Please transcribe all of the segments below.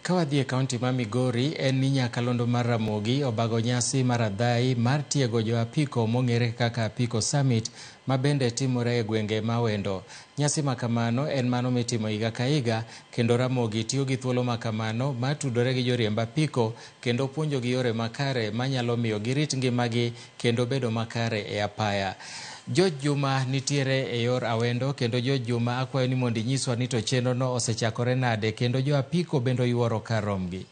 Kawadhi e kaunti ma Migori, en ni nyakalondo mar Ramogi obago nyasi mar adhayi mar tiego jo apiko mong'ere kaka Apiko Summit ma bende timore e gwenge ma wendo. Nyasi ma kamano en mano mitimo higa ka higa kendo Ramogi tiyo gi thuolo ma kamano mar tudore gi joriemb apiko kendo puonjogi yore makare manyalo miyo girit ngimagi kendo bedo makare e apaya. George Juma nitiere e yor Awendo kendo George Juma akwayo ni mondo inyiswa ni to chenro no osechakore nade kendo jo apiko bende oyuoro kar romgi.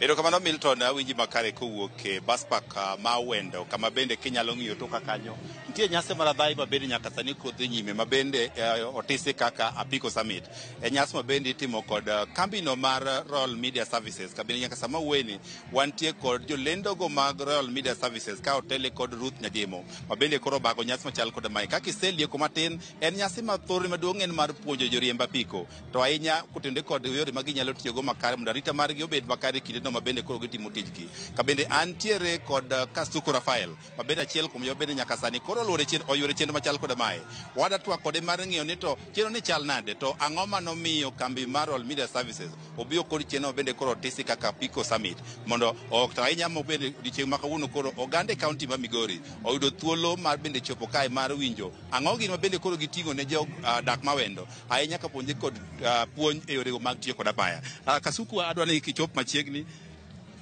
Erokamano Milton, awinji makare kowuok e bus park ah, ma Awendo kama bende kinyalo ng'iyo toka kanyo nitie nyasi mar adhayi ma bende nyaka sani kod dhi nyime ma bende eh, otisi kaka Apiko Summit. E nyasi ma bende itimo kod ah, kambino mar Royal Media Services kabende nyaka sama wuoyeni Wantie kod jolendogo mag Royal Media Services ka otele kod Ruth Nyajemo ma bende koro bago nyasi machal kod mae. Kaka iselieko matin, en nyasi ma thorne maduong' en mar puonjo joriemb apiko to ahinya kotende kod yore ma ginyalo tiyogo makare mondo arita margi obed makare kindeno ma bende koro gitimo tijgi. Ka bende antiere kod uh, Kasuku Rafael mabende achiel kuom joma bende nyaka sani koro oluoro chien oyuoro chenro machal koda mae wada twak kode mar ng'iyo ni to chenro ni chal nade to ang'o ma nomiyo kambi mar All Media Services obiyo kod chenro bende koro tisi kaka Pico Summit mondo ok to ahinya mo bende odiochieng' ma kawuono koro oganda e kaunti ma Migori oyudo thuolo mar bende chopo kae mar winjo ang'o gini ma bende koro giting'o ne jo ah, dak mawendo ahinya ka puonje kod ah, puonj e yorego mag tiyo kod apaya Ah, Kasuku adwa ni kichop machiegni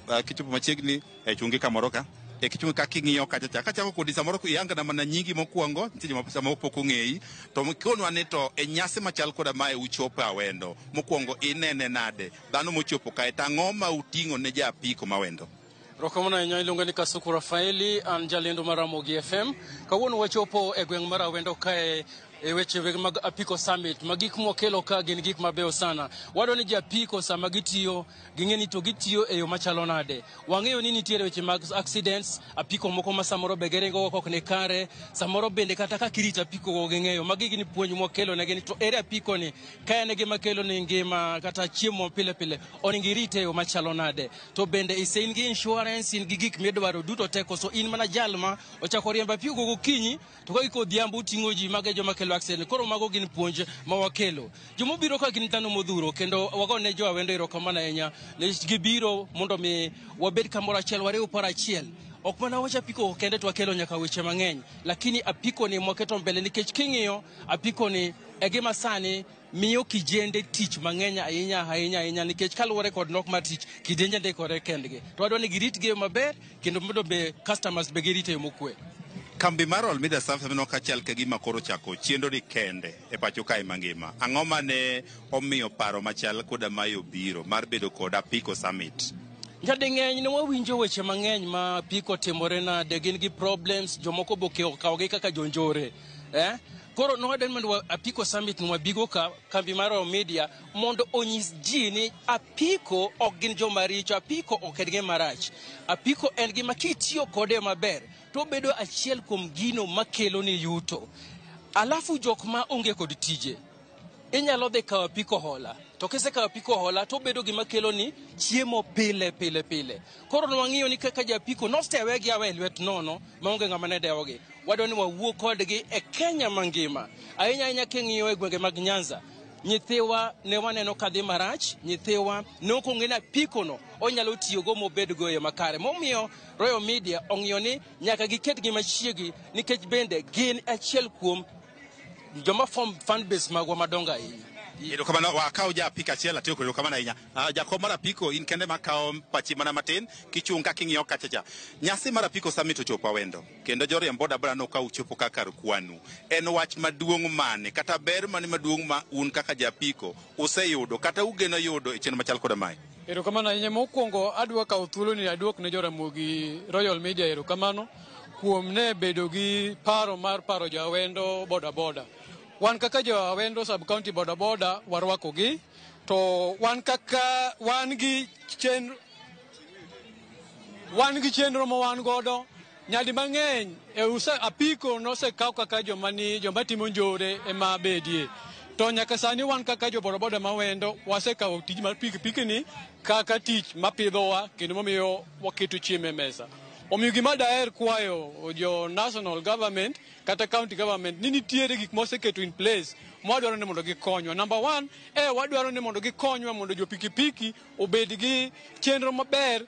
ah, kichopo machiegni e chungi kamoro ka e kichungi ka king'iyo kacha cha kachako kodi samoro iyangana mana nyingi mokwongo nitie joma samoro pok ong'eyi to konwa ni to e nyasi machal koda mae uchopo awendo mokwongo inene nade dhano mochopo kae to ang'o ma uting'o ne ja apiko mawendo Rokamana ahinya iluonga ni Kasuku Rafaeli, an jalendo mar Ramogi FM. Kawuono wachopo e gweng' mar Awendo kae e weche weg mag Apiko Summit ma gik mwakelo ka gin gik mabeyo sana. Wadwa ni japiko sama gitiyo ging'e ni to gitiyo e yo machalo nade. Wang'eyo ni nitiere weche mag accidents, apiko moko ma samoro be giringo go ok ni kare, samoro bende kata kaka irito apiko go ging'eyo. Magi gin puonj mwakelo negi ni to ere apiko ni ka en e gima kelo ni ngima kata chiemo pile pile onego irite e yo machalo nade. To bende ise in gi insurance, in gi gik midwaro duto te koso in mana jal ma ochako riembo apiko go gokinyi to ka giko odhiambo uting'o ji mago e joma kelo accident koro mago gin puonj ma wakelo joma obiro ka gin dhano modhuro kendo wago ne jo awendo erokamano ahinya nikech gibiro mondo mi wabed kamoro achiel wariw paro achiel ok mana wacha apiko kende to wakelo nyaka weche mang'eny lakini apikoni mwaketo mbele nikech king'iyo apikoni e gima sani miyo kijende tich mang'eny ahinya ahinya ahinya nikech kaluwore kod nok mar tich kidenje ndikore kendgi to wadwa ni giritgi e yo maber kendo mondo be customers be girite e yo mokwe Kambi mar Olmida Services mineno kachal ka gima koro chako chenroni kende e pacho kae mangima. Ang'o ma ne omiyo paro machal koda mae obiro mar bedo kod Apiko Summit? Nyading'eny ne wawinjo weche mang'eny ma apiko timore nade, gin gi problems, jomoko be okawogi kaka jonjore. eh? koro nowaden mondo apiko summit no wabigo ka kambi mar Oro media mondo onyis ji ni apiko ok gin joma richo apiko ok en gima rach apiko en gima kitiyo kode maber to obedo achiel kuom gino makelo ni yuto alafu jok ma onge kod tije inyalo dhi kawo pi kohola to kisekawo pi kohola to obedo gima keloni chiemo pile pile pile koro nwang'iyo ni kaka japiko nostewegi awe e lwet nono maonge ng'ama ne dewogi wadwa ni wawuo kodgi e kenya mangima ahinya ahinya king'iyo e gwenge mag nyanza nyithiwa ne waneno kadhi marach nyithiwa ne ok ong'e ni apikono onyalo tiyogo mobedgo e yo makare momiyo royal media ong'iyo ni nyaka giketgi machiegi nikech bende gin achiel kuom joma form fan base magwa madongo ahinya erokamano wakawo ja apiko achiel atiyo kod erokamano ahinya Ah, jakom mar apiko in kende makawo pachi mana matin kichung' kaka ing'iyo kacha cha nyasi mar apiko summit ochopo awendo kendo joriemb boda boda no ka uchopo ka kar kwanu en wach maduong' mane kata ber mane maduong' ma un kaka ja apiko useyudo kata ugeno yudo e chenro machal koda mae erokamano ahinya mokwongo adwa kawo thuoloni aduok ne joramogi royal media erokamano kuom ne bedo gi paro mar paro jawendo bodaboda. Wan kaka jawendo sub county bodaboda warwakogi to wan kaka wan gi chenro wan gi chenro ma wan godo nyadi mang'eny e use apiko nosekaw kaka joma ni joma timo njore ema bedie to nyaka sani wan kaka jo bodaboda ma wendo wasekawo tij mar pikipiki ni kaka tich mapidhowa kendo mamiyo waketo chiemo e mesa Omiyo gima daher kwayo jo national government kata county government ni nitiere gik moseketo in place mwadwaro ni mondo gikonywa. Number one, eh, wadwaro ni mondo gikonywa mondo jo pikipiki obed gi chenro maber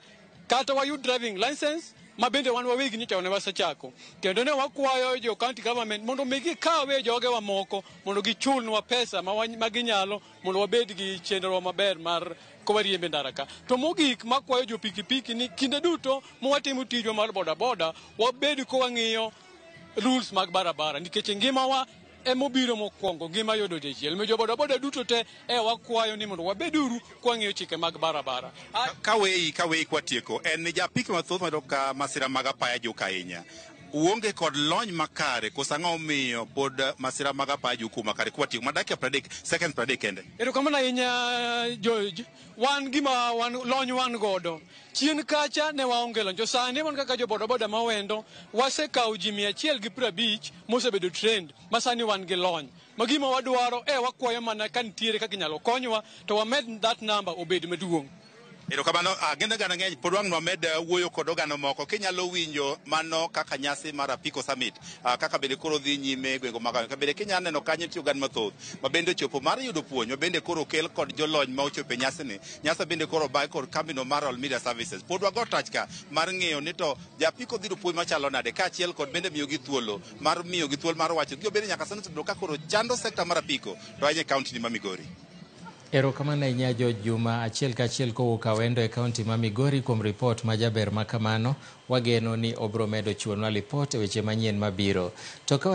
kata wayud driving license ma bende wan wawegi nyicha ne wasechako kendo ne wakwayo jo county government mondo mi gikawe jogewa moko mondo gichulnwa pesa ma, ma ginyalo mondo wabed gi chenro maber mar kowariembe ndara ka. To mogik makwayo jo pikipiki ni kinde duto mwatimo tijwa mar bodaboda wabed kowang'iyo rules mag barabara nikech e ngimawa emobiro mokwongo ngima yudo dichiel mi jobodaboda duto te e wakwayo ni mondo wabeduru kwang'iyo chike mag barabara Ka- kaweyi kaweyi kwatieko en ni japiki mathoth mayudo ka masira mag apaya juka ahinya uonge kod lony makare koso ang'o omiyo pod eh, masira mag apaya ju kuma kare kwa tiyo ma dakika pradek seconds pradek kende erokamano ahinya George. Wan gima wan lony wan godo. Chien kacha ne waonge lony. To sani wan kaka jo bodaboda ma wendo, wasekawo ji mia achiel gi piero abich mosebedo trained ma sani wan gi lony. Ma gima wadwaro e wakwayo mana ka nitiere kaka inyalo konywa to wamed that number obed maduong'. Erokamano. Ah, gin oganda ng'eny pod wang' nwamed eh, wuoyo kod oganda moko kinyalo winjo mano kaka nyasi mar apiko summit ah, kaka bende koro dhi nyime e gwenge mag ka bende kinyalo neno kanyo nitie oganda mathoth ma bende ochopo mar yudo puonj ma bende koro okel kod jolony ma ochopo e nyasini nyasa bende koro obae kod kambino mar All Media Services pod wago tach ka mar ng'eyo ni to japiko dhi yudo puonj machalo nade kaachiel kod bende miyogi thuolo mar miyogi thuolo mar wacho gigo bende nyaka sani osebedo ka koro chando sekta mar apiko to ahinya e kaunti ni ma Migori Erokamano ahinya George Juma, achiel ka achiel kowuok Awendo e kaunti ma Migori kuom ripot ma jaber ma kamano. Wageno ni obiro medo chiwonwa lipot e weche manyien mabiro. To ka